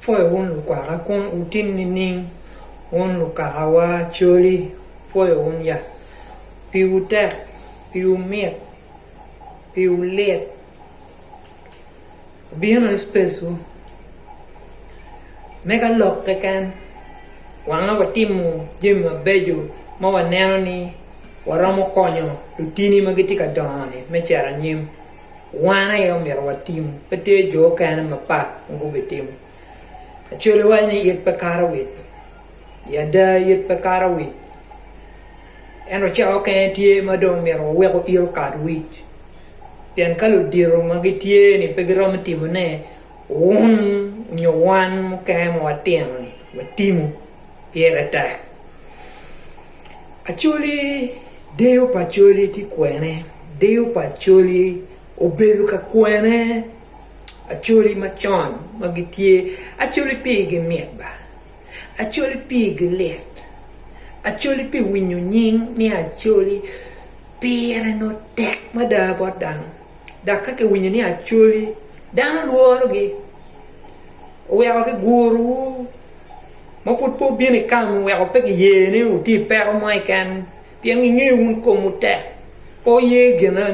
Pwoyo wun lukwaka kun wutim nining? Wun lukakawa coli, pwoyo wun ya. Piwu tek, piwu mit, piwu lit. Abino i spacwu, me ka lok keken, wanga watimo jami mabeco ma waneno ni waromo konyo lutini ma gitye ka dongo-ni me cito anyim. wan aye omyero watim, pe tye jo okene mapat ma gubitimo. Acolle waco ni it pe kato wit, i ada it pe kato wic, ento cawa okene tye ma dong omyero waweko it okat wic, pien ka ludito ma gitye-ni pe giromo timone, wun nyo wan mukene ma watino-ni watimo pire tek. Acholi, deyo pa Acholi tye kwene? Deyo pa Acholi obedo ka kwene? Acholi macon ma gitye, Acholi pigi mit ba, Acholi pigi lit, Acholi pi winyo nying ni Acholi pire nongo tek mada bot dano. Dok ka kiwinyo ni acoli dano lworogi, oweko gigurowu, ma pud pe wubino i kami, oweko pe giye ni wutye i peko mo keken, pien gingeyo wun komwu tek, pe wuye gin ma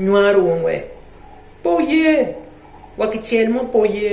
nywaro wunu-we, pe wuye, wa kicel mo pe wuye.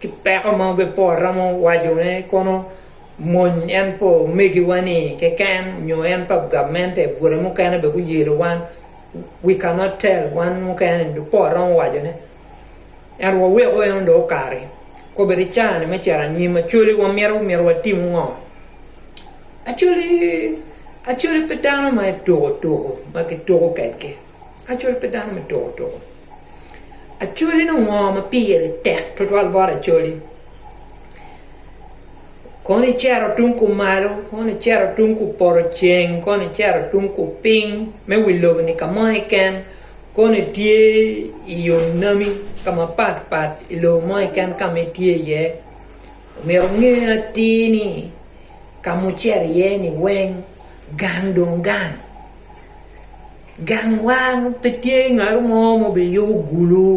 ki peko ma pe waromo wacone kono mony en pa omegiwa ni keken nyo en pa gamente bute mukene bene guyelo wan we can not tell wan mukene pe waromo wacone ento waweko en dong okati kobedi i caa ni me cito anyim actually wamito myero watim ngo actually actually pe dano ma tuko tuko ma kituko kwedgi. Acol pe dano me toko toko. Acoli nongo ngo ma pire tek twatwal bot acoli? Kono icito tung kumalo, kono icito tung kupoto ceng, kono icito tung kupiny me wi lobo-ni ka mo keken, kono itye i yo nami ka mapat pat i lobo mo keken ka ma itye iye, omyero inge atir ni ka ma wucito iye-ni weng gang dong gang. Gang wang pe tye ngat mo ma obiyubo gulu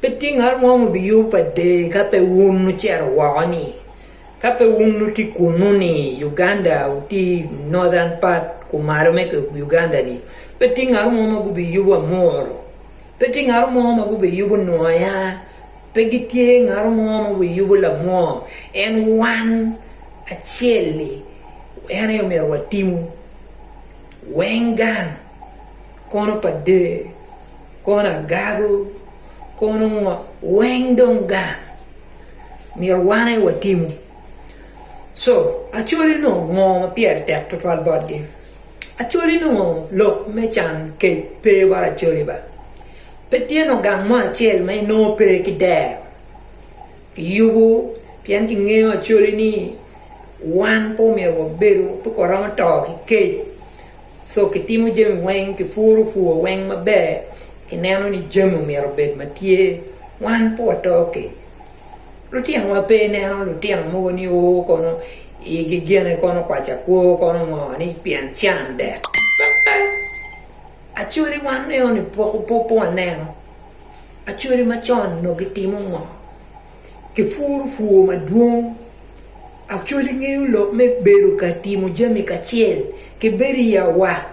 pe tye ngat mo ma obiyubo pa dee ka pe wun ocito woko-ni ka pe wun wutye i kunnu-ni Uganda wutye i Northern part kumalo me Uganda-ni pe tye ngat mo ma gubiyubo Amuru pe tye ngat mo ma gubiyubo Nwoya pe gitye ngat mo ma obiyubo Lamwor en wan Acel-li, en aye omyero watimu weng gang, kono pa der, kono agago, kono ngo, weng dong gang myero wan aye watimu. Co Acholi onongo ngo ma pire tek twatwal botgi? Acholi onongo lok me can kec pe bot Acholi ba? Pe tye nongo gang mo acel ma inongo pe ki dero Kiyubo pien kingeyo actually ni wan pe omyero wabedo pe waromo to ki kec so kitimo jami weng kipuro pur weng maber kineno ni jami omyero obed ma tye wan pe wato kec lutinowa pe ineno lutino mogo ni o kono igi gene kono kwaco akwo kono ngo ni pien can dek pe pe actually wan eno ni poko pe waneno. Acholi macon onongo gitimo ngo? Gipuro pur madwong. Acholi ngeyo lok me bedo ka timo jami kacel ki bedo i awaka.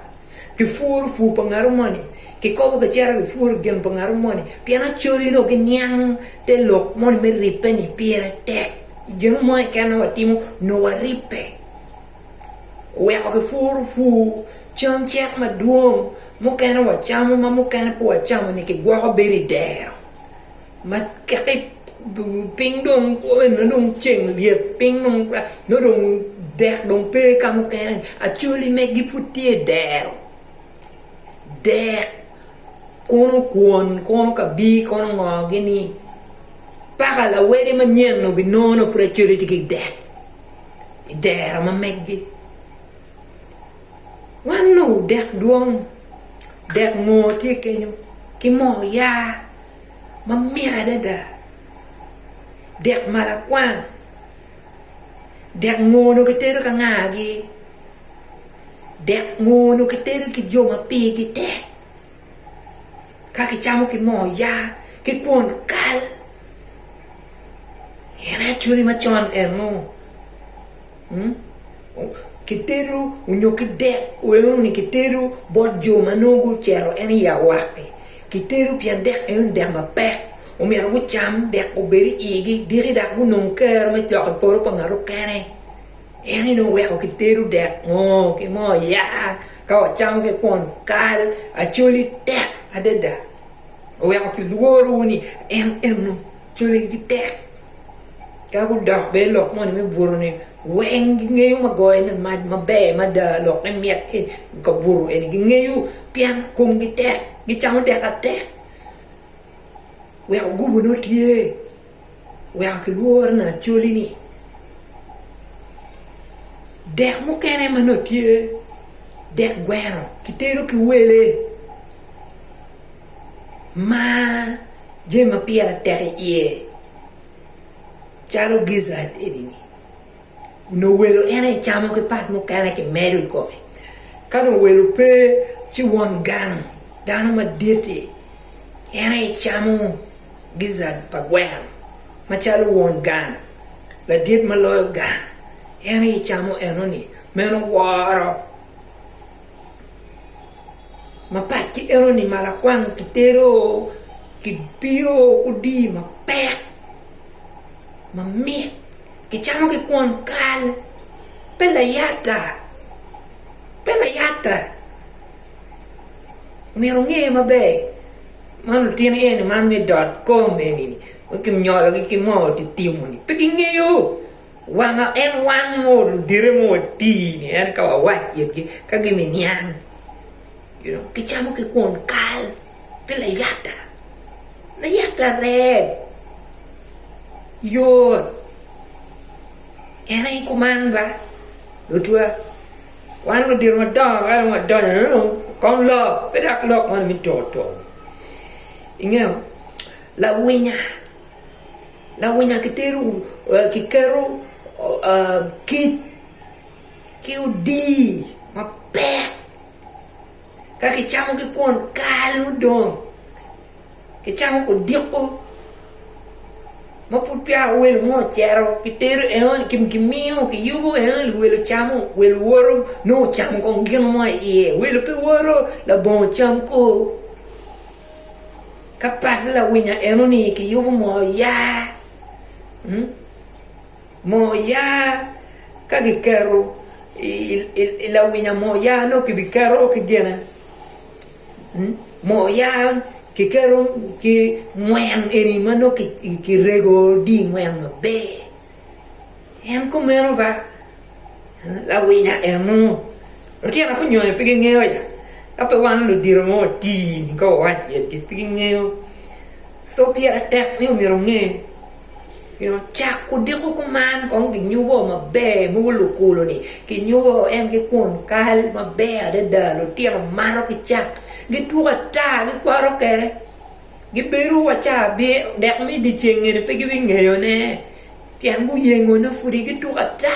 Gipuro pur pa ngatu moni, gikobo gicito gipuro gin pa ngatu moni pien acholi dong giniang te lok moni me ribbe ni pire tek. Gino mo keken ma watimo nongo waribbe. oweko kipuro pur cam cek madwong mukene wacamo ma mukene pe wacamo ni kigwoko bedo i dero ma ka piny dong kome nongo dong ceng lyet piny nongo dong dek dong pe ka mukene acoli megi pud tye i dero dek kono kwon kono ka bino kono ongoogi ni paka lawede manyen-nu ginongo nongo pud acoli tye ki i dek. i dero ma meggi. Wan onongo dek dwong, dek ngor tye kenyo ki moo oyaa ma mit adada, dek malakwang, dek ngor onongo kitedo ki angagi, dek ngor onongo kitedo ki jo ma pigi tek. ka kicamo ki moo yaa ki kwon kal en aye cwiny macon eno kitedo nyo ki dek eno ni kitedo bot jo ma nongo gucito en i awaka-ki kitedo pien dek eno ni dek mapek omyero gucam dek obed i igi diki dok gunong kero me cok i poto pa ngat mukene. En aye dong weko kitedo dek moo ki moo oyaa ka wacamo ki kwon kal Acholi tek adada oweko kilworo ni en eno Acholi gitek ka gudok bene i lok moni me buto ni weng gingeyo ma goyone mac maber mada lok me myek ki kabuto eni gingeyo pien komgi tek gicamo dek atek weko gubo nongo tye. weko kilworo ni acoli-ni dek mukene ma nongo tye dek gweno kitedo ki wele ma jami ma pire tek iye calo gizzard eni-ni. Onongo welo en aye camo ki pat mukene kimedo i kome. Ka dong welo pe, ci won gang, dano madit-ti, en aye camo gizzard pa gweno macalo won gang, ladit ma loyo gang, en aye camo enoni. Meno woro mapat ki enoni ma lakwang kitedo, kibiyo ki odii mapek mamit. Gicamo ki kwon kal, pe layata, pe layata. Omyero wunge maber, man lutino eni man me dot kom eni ma kinyologi ki moo titimo-ni pe gingeyo wanga en wango ludite ma wati-ni ento ka wawaco itgi ka giminiang. Dok gicamo ki kwon kal ki layata, layata reb yot, en aye kuman ba, lotwa, wan ludito madongo ka dong wadonyo ni dong kong lok pe dok lok moni me tuko tuko-ni, ingeyo lawinya, lawinya gitero giketo kic ki odii mapek. Ka kicamogi kwon kalo dong kicamo odiko ma pud peya welo mo ocito kitero enoni kimiyo kiyubo enoni welo camo welo woto nongo ocamo kong gino mo iye welo pe woto labongo cam ko ka pat lawinya enoni kiyubo moo oya Moo oya ka giketo i lawinya moo oya nongo kibiketo ki gine moo oya kiketo ki ngwen eni ma nongo kirego dye ngwen maber en kumeno ba lawinya eno lutino gunyono pe gingeyo ya ka pe wan ludito ma watii-ni ka wawaco iyegi pe gingeyo so pire tek ni myero onge. Nyo cak kudiko kuman kong ginyubo maber mogo lukulo ni ginyubo en ki kwon kal maber adada lutino mato ki cak gituko ata gikwaro kede gibedo wa ca dek me dyeceng eni pe gibi ngeyo ne tyen guyengo ne pudi gituko ata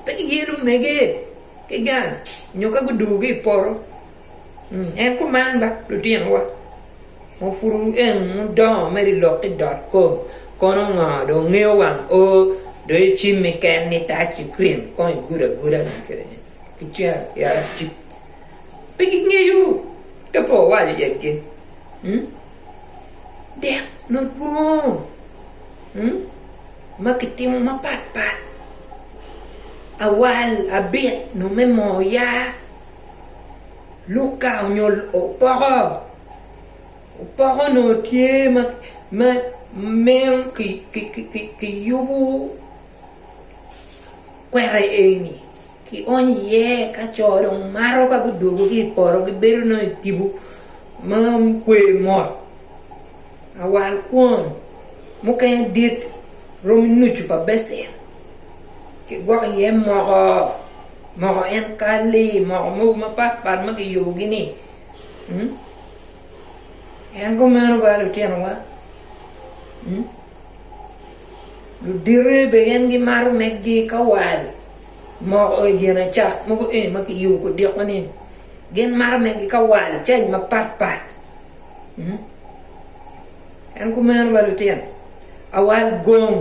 pe giyelo mege ki gang nyo ka gudugo ki ipoto. En kuman ba lutinowa, ma pud wueng wudongo mere i lok ki dot kom, kono ngo dong ngeyo wang o, dong icimmi ken ni itac ki krim kong igudo aguda dong kede en ki cen ki arac-ci, pe gingeyo ka pe wawaco yatgi dek madwong ma kitimo mapat pat awal, abit nongo me moo yaa. Luka nyo opoko, opoko nongo tye ma ma miyo ki ki ki kiyubu kweta eni kionyo iye ka co dong mato ka gudwogo ki i poto gibedo nongo i tipo ma gukwe mot lawal kwon mukene dit romo nucu pa becen kigwoko iye moko. Moko en ka lee moko mogo mapat pat ma kiyubogi ni mm en kumeno ba lutinowa mm ludite be gin gimato meggi ka wal moko i gin acak mogo eni ma kiyubo kudiko ni gin mato meggi ka wal caij mapat pat mm En kumeno ba lutino awal gong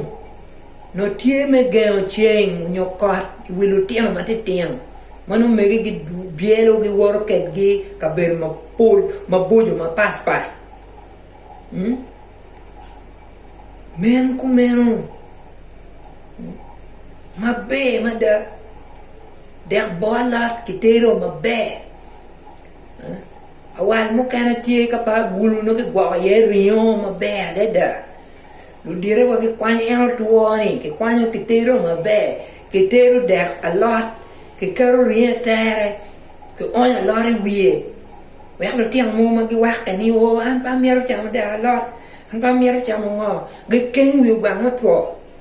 nongo tye me gengo ceng onyo kot i wi lutino matitino ma nongo megi gi byelo gi woto kedgi kabedo mapol maboco mapat pat men kumeno maber mada dek bor alot kitero maber Awal mukene tye ka pe agulu nongo kigwoko iye ringo maber adada, ludite wa gikwanyo en otwo ni kikwanyo kitedo maber, kitedo dek alot kiketo ringo i tere kionyo alot i wiye wek lutino mogo ma giwakke ni oo an pe amito camo dek alot an pe amito camo ngo gikeng wi ogwang me two.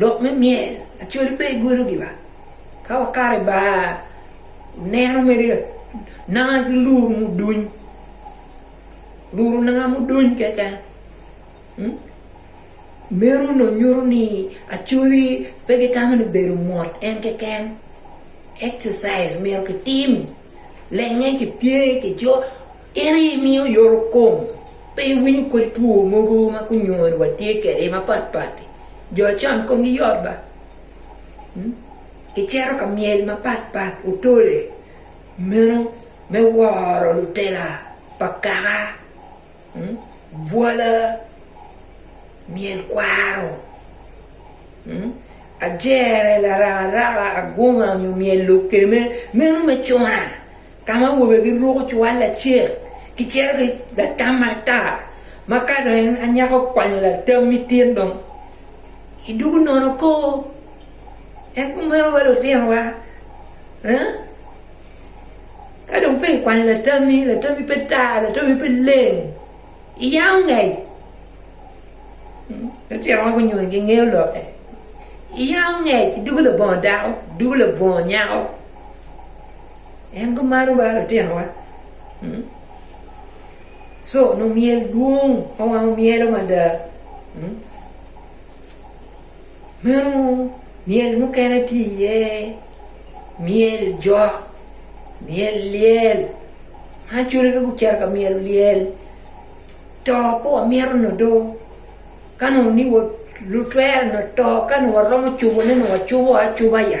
Lok me myel acolle pe igwelo giwa ka wakato i bar oneno mere nanga ki lur muduny lur nanga muduny keken meno dong nyuto ni acoli pe gitamo ni bedo mot en keken exercise myero kitim lenge kipye kijok. En aye miyo yorokom. Pe iwinyo kodi two mogo ma gunywoni wa tye kwede mapat pat-ti? Jo acon komgi yot ba? Gicito ka myel mapat pat, otole, meno me woro lutela pa kaka, bwala, myel kwaro, ajere, laraka raka, agunga nyo myel lukeme, meno me cuna. ka ma awobe giruko cwal lacek gicito ki latam matar, ma ka dong en anyaka okwanyo latam mitin dong idwogo nono koo. En kumeno wa lutinowa aa ka dong peya ikwanyo latami, latami pe tar, latami pe leng iyango ngec lutinowa gunyono gingeyo lokke iyango ngec idwogo labongo dako idwogo labongo nyako. En gumaro ba lutinowa, co onongo myel dwong ma wango myelo mada. Meno myel mukene tye iye myel jok, myel lyel ma acolagi gucito ka myelo lyel to pe wamito nongo do ka nongo ni lutwere nongo to ka nongo waromo cobone nongo wacobo acoba ya.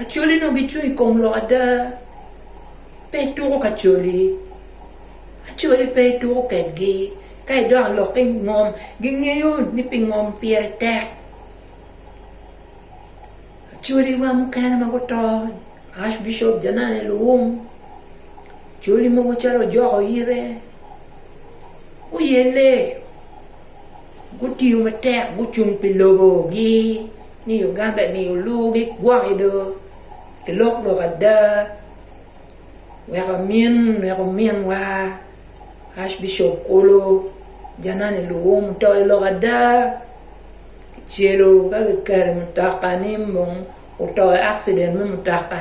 Acholi nongo gicung i kom lok ada. Pe ituko ka coli. Acholi pe ituko kedgi. Ka idok i lokke i ngom, gingeyo ni pi ngom pire tek. Acholiwa mukene ma guto, Arch Bishop Janane Luwum, coli mogo calo Ojok Oyire, guyelle, gutiyo matek, gucung pi lobogi. ni Uganda ni olugi gwoki do kilok lok ada wek amin wek ominwa Arch Bishop Kulu Janani Luwum oto i lok ada kicelo ka kiketo i mutoka ni oto i accident me mutoka.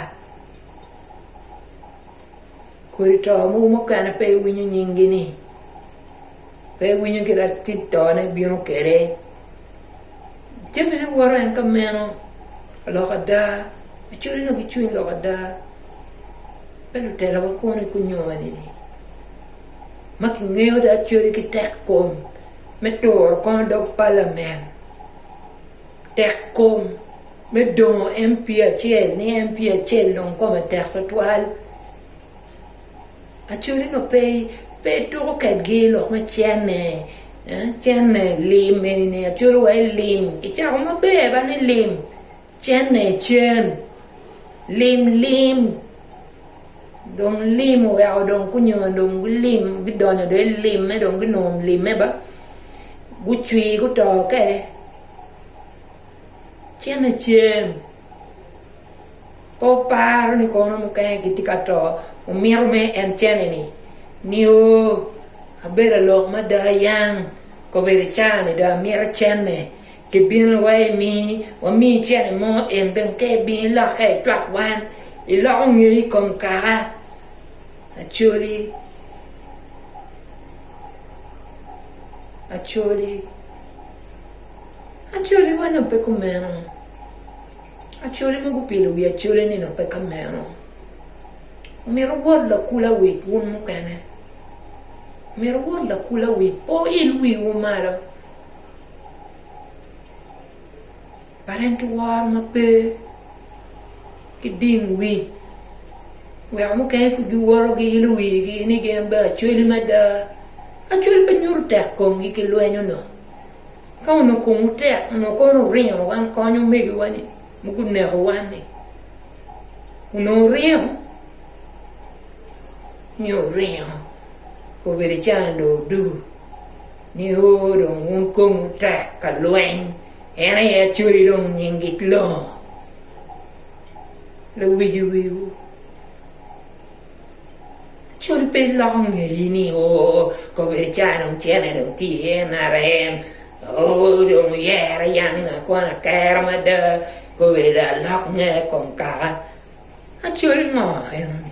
Kodi to mogo mukene pe iwinyo nyingi ni, pe iwinyo kit atit tone bino kede. Jamine woto en ka meno, lok ada, ocoli no gicwiny lok ada. Pe lutelawa kono i kunyoni ni, ma kingeyo dong acoli ki tek kom me turo kono dog palamen, tek kom. me dongo MP acel ni MP acel dong kome tek twatwal acoli nongo pe pe tuko kwedgi lok me cene eh cene lim eni ni acol wa ilim kicako maber ba ni lim cene cen lim lim dong lim oweko dong gunyono dong gulim gudonyo dong i limme dong gunongo limme ba gucwi guto kwede. Cenacen, pe oparo ni kono mukene gitye ka to, omito mere en cene-ni nio abedo alok mada ayang kobedo icane-ni dong amito cene ki bino wa imini wami cene mo en dong ka ibino ilokke icwak wan iloko ngeyi i kom kaka Acholi Acholi Acholi wa nongo pe kumeno. Acholi mogo gupilo wi acholi ni nongo pe kameno. Omito wot lakula wi wun mukene. Omito wot lakula wi pe wuil wiwu malo. But en ki woro ma pe ki ding wi weko mukene pud giwoto giilo wigi ni gin bene acholi mada. Acholi pe nyuto tek komgi ki lweny onongo. Ka onongo komwu tek, onongo kono wuringo wan kony omegiwa-ni ma gunekowa-ni? Onongo wuringo? Nyo wuringo obedo icaa dong odu ni oo dong wun komwu tek ka lweny, en aye Acholi dong nying it lobo, lawigi wiwu. Cul pe iloko ngeyi ni oo kobedi caa dong cene dong tye i NRM oo dong oyere yam nga kono aker mada kobedi dong alok nge kong kaka acol ngo enoni.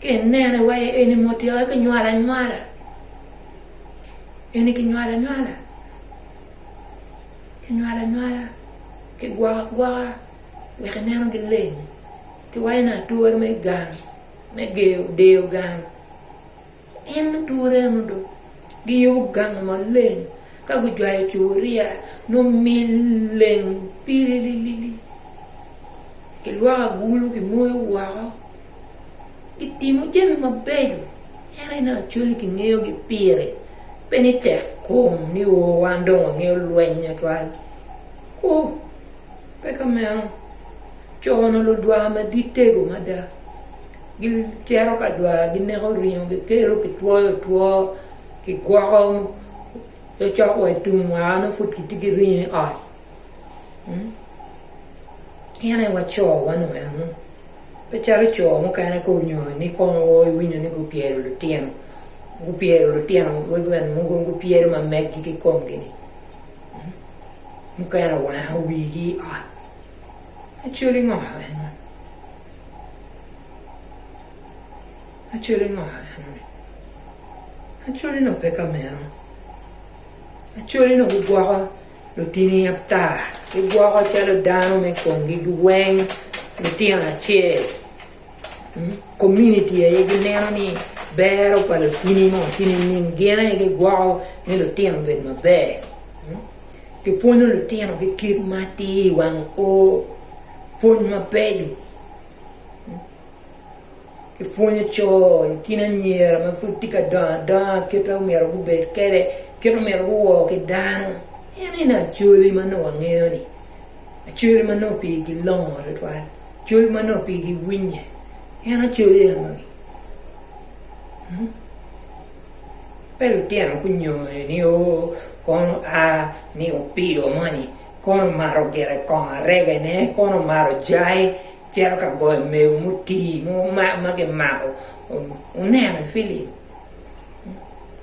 ka ineno iwaco ni eni mo otyeka ki nywalo anywala eni kinywalo anywala kinywalo anywala kigwoko agwoka wek ineno gileng kiwaco ni ature me gang me deyo gang. En luture mo dong giyubo gang maleng ka gujwayo cuburia nyo mil leng pilililili kilwoko agulu kimoyo woko gitimo jami mabeco ento inongo Acholi kingeyogi pire pe ni tek kom ni o wan dong wangeyo lweny tutwal ooh pe ka meno co onongo ludwar madittego mada. Gicito ka dwar gineko ringo gikelo kitwoyo two kigwoko cokcok wa i tum wa nongo pud kitye ki ringo i ot in aye wa co wa nongo eno pe calo co mukene ka onyongo ni kono o iwinyo ni gupyelo lutino gupyelo lutino wegi bene mogo gupyelo ma meggi ki komgi-ni mukene oweko wigi i ot Acoli ngo eno? Acoli ngo eno-ni? Acoli nongo pe ka meno. Acoli nongo gigwoko lutini ata, gigwoko calo dano me komgi giweng, lutino acel. community aye gineno ni bero pa lutini mo tye nining gin aye gigwoko ni lutino obed maber kipwonyo lutino ki kit ma tye i wang o pwony mabeco kipwonyo co lutino anyira ma pud tye ka dongo adonga kit ma myero gubed kwede kit ma myero guwor ki dano enoni acholi ma nongo wangeyo-ni Acoli ma nongo pigi longo twatwal, acoli ma nongo pigi winye, en acoli enoni. Pe lutino gunyonyo ni oo kono a ni opio moni kono omato gire kongo aregene, kono omato jai cito ka goyo mego mutii mo ma kimako, wuneno i filim.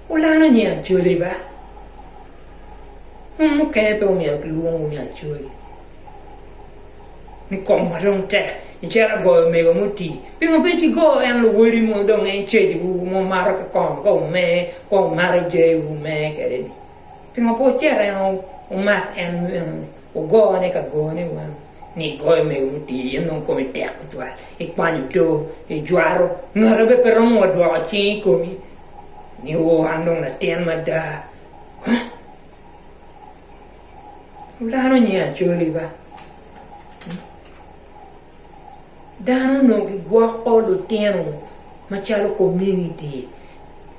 Wulalo nying Acholi ba? Un mukene pe wumito kilwongowu ni Acholi? Ni komwa dong tek icito agoyo omego muti. Pingo pe cigo en luwodi mo dong en cajiwu ma wumato ki kong ka wumer ka wumato jayi wu wumer kwede-ni? Pingo pe wucito en wumat en meno-ni wugone ka gone wunu? ni igoyo mewu otir, in dong komi tek tutwal, ikwanyo too, ijwaro, ngati bene pe romo wa dwoko cing i komi ni oo an dong latin mada. Huh? Dano nyi Acholi ba. Dano onongo gigwoko lutino macalo community.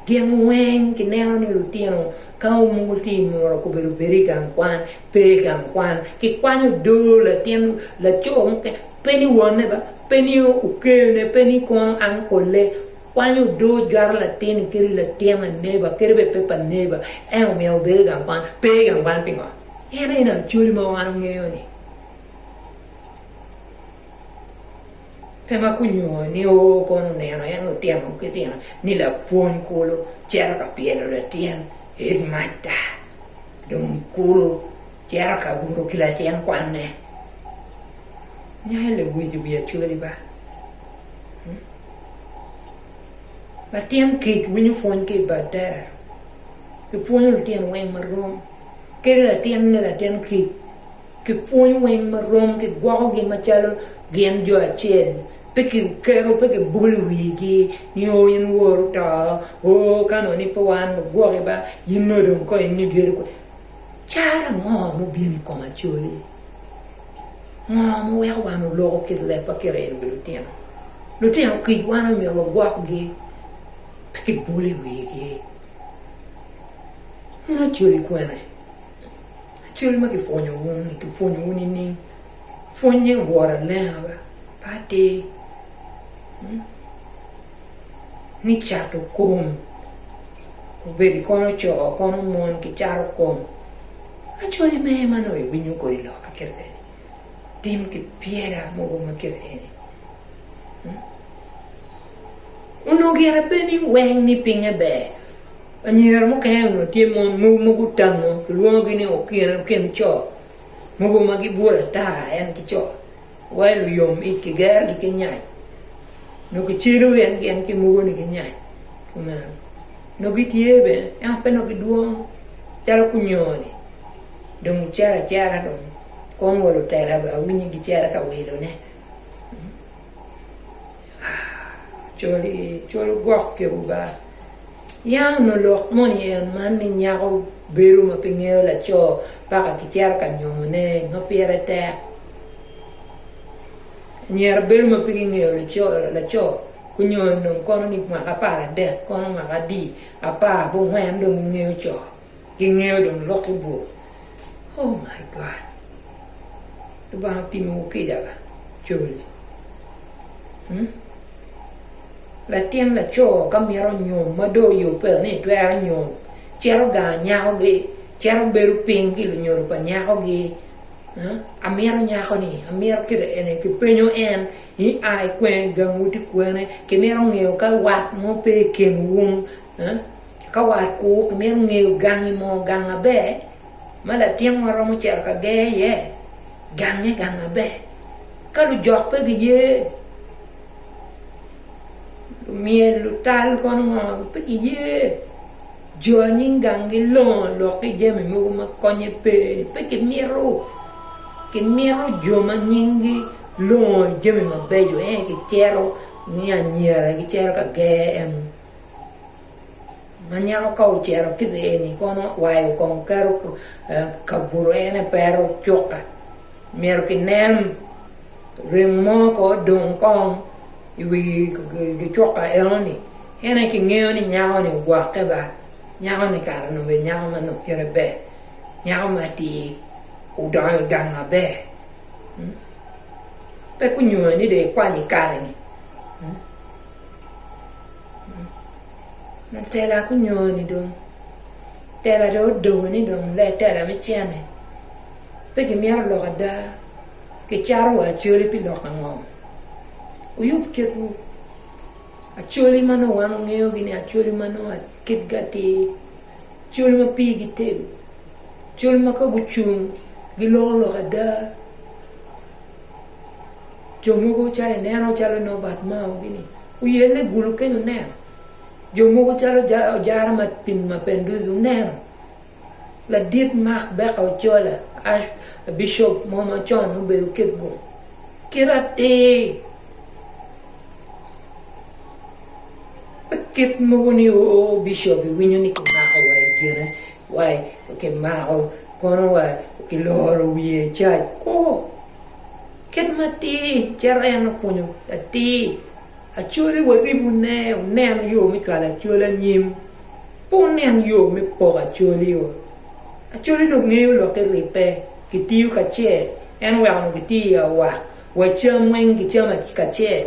Gin weng gineno ni lutino ka onongo tye i muru okobedo bed i gang kwan, pe i gang kwan. Kikwanyo odoo latin laco mukene pe ni wonne ba, pe ni okene, pe ni kono uncle-le. Kwanyo odoo jwato latin-ni kadi i latin pa neighbour kadi bene pe pa neighbour en omyero obed i gang kwan. Pe i gang kwan pingo? En ene acoli ma wan ongeyo-ni. Pe ma gunyongo ni oo kono oneno en lutino ki tino ni lapwony kulu cito ka pyelo latin hedmasta dong kulu cito ka buto ki latin kwanne. Nyako lewic wiye cwali ba. Latin kic winyo pwony ki i bad dero. Kipwonyo lutino weng marom. Kadi latin ni latin kic. Kipwonyo weng ma rom, kigwokogi macalo gin jo acel, pe kiketo, pe kibolo i wigi ni, Oo, in wor oto, oo, ka nongo ni pe wan wagwoki ba, in nongo dong kong ini dyeri kwo. Caro ango ma obino i kom Acholi? Ngo ma weko wan oloko kit leb pa Kereni wi lutino? Lutino kic wan omyero wagwokgi, pe kibolo i wigi. Mono Acholi kwene? Cal ma kipwonyo wun-ni, kipwonyo wun nining? Pwonye woro alenga ba, pe atir. Ni cato kom, obed kono co kono mon, kicato kom. Actually me ma nongo iwinyo kodi loka kit eni, tim ki pyera mogo ma kit eni. Onongo gire pe ni weng ni pinye ber. Anyira mukene onongo tye mon mogo ma gutango kilwongogi ni okin co mogo ma gibwolo ata en ki co wa i luyom ic kigerogi ki nyac nongo kicelo gin ki mogoni ki nyac kumeno nongo gitye bene ento pe nongo gidwong calo kunyoni dong icito acita dong kom wa lutela bene awinyo gicito ka wilone. Col gwok kiketo ba, ya onongo lok moni en man ni nyako bedo ma pe ngeyo laco paka kicito ka nyomone ma pire tek anyira bedo ma pe gingeyo laco nyo dong kono ni mwaka apar adek kono mwaka adi apar bongwen dong gingeyo co. Gingeyo dong lok ki bur. Oh my God! Lubanga otimo wu kica ba col. Hum! Latin laco ka mito nyom ma dong oyubbe ni twero nyom, cito gango nyakogi, cito bedo piny ki lunyodo pa nyakogi, huh? Amito nyakoni, amito kite eni, kipenyo en ni a i kwene, gangwu tye kwene, kimito ngeyo ka wat mo pe i kinwu, huh? Ka war kwo, imito ngeyo gangi mo, gang maber ma latinwa romo cito ka ger iye? Gange gang maber. Ka lujok pe giye, myel, lutal kono ngo? Pe giye. Jo anyim gang gilongo lok ki jami mogo ma konye pe ni. Pe kimito, kimito jo ma nyimgi longo i jami mabeco ento kicito ni anyira gicito ka ger en. Ma nyako ka ocito ki rii eni kono wayo kong keto ka buto en aye pero cuka myero ki nen ringo mo ko odong kong i wi cuka eno ni en aye ki ngeyo ni nyako ni ogwokke ba nyako ni kare ni obedo nyako ma nongo kite ber nyako ma atir odongo i gang ma ber pe gunyoyo ni dong ikwanyo ikare ni. Tela gunyoni dong tela dong odoko ni dong lee tela me cente pe kimito lok ada kicato wa acholi pi lok ango wuyub kitwu acholi ma nongo wan wangeyogi ni acholi ma nongo kitgi atir acholi ma pigi tek acholi ma ka gucung giloko lok ada. Jo mogo calo ineno calo nongo bat mao gini oye ni gulu kenyo oneno jo mogo calo ojara ma pin mapenduzi oneno ladit mak beka ocola bicop mo macon obedo ki gung kit atir pe kit mogo ni oo bicop iwinyo ni kimako wa i kine wa kimako kono wa kiloro wiye cac oo Kit matir calo en opwonyo atir, acwale waribune onen yo me cwalo acwal anyim, pe wunen yo me poko acwalio. Acwali dong ngeyo lok ki ribbe, kitiyo kacel, en oweko dong kitiyo i awak, wacam weng gicamo kacel.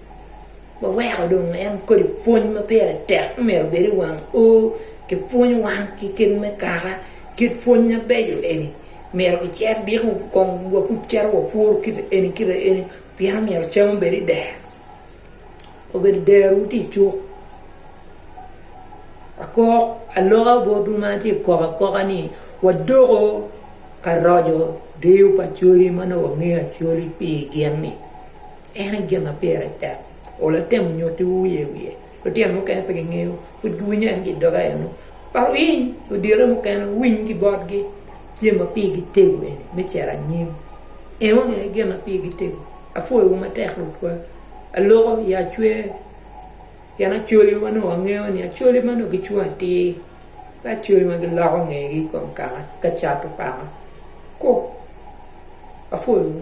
waweko dong en kodi pwony ma pire tek ma myero obed i wang o ki pwony wan ki kit me kaka kit pwony mabeco eni myero kicit diko kong wapud cito wa pworo kite eni kite eni pien omyero cam obed i dero obedo dero tye i cuk akok aloka botwu ma atye ka kok akoka ni wadoko ka roco deyo pa acholi ma nongo wangeyo acholi pi gin ni. En aye gin ma pire tek. Ol atemo nyutiwu wiye wiye. Lutino mukene pe gingeyo, pud giwinyo en ki i doga eno. Par winy odyere mukene winy ki botgi jami ma pigi tego eni me cito anyim. Eno ni aye gin ma pigi tego. Apwoyowu matek lutwa. Aloko i acwer pien acoli ma nongo wangeyo ni acoli ma nongo gicung atir pe acoli ma giloko ngegi i kom kaka cato paka. Ku. Apwoyowu.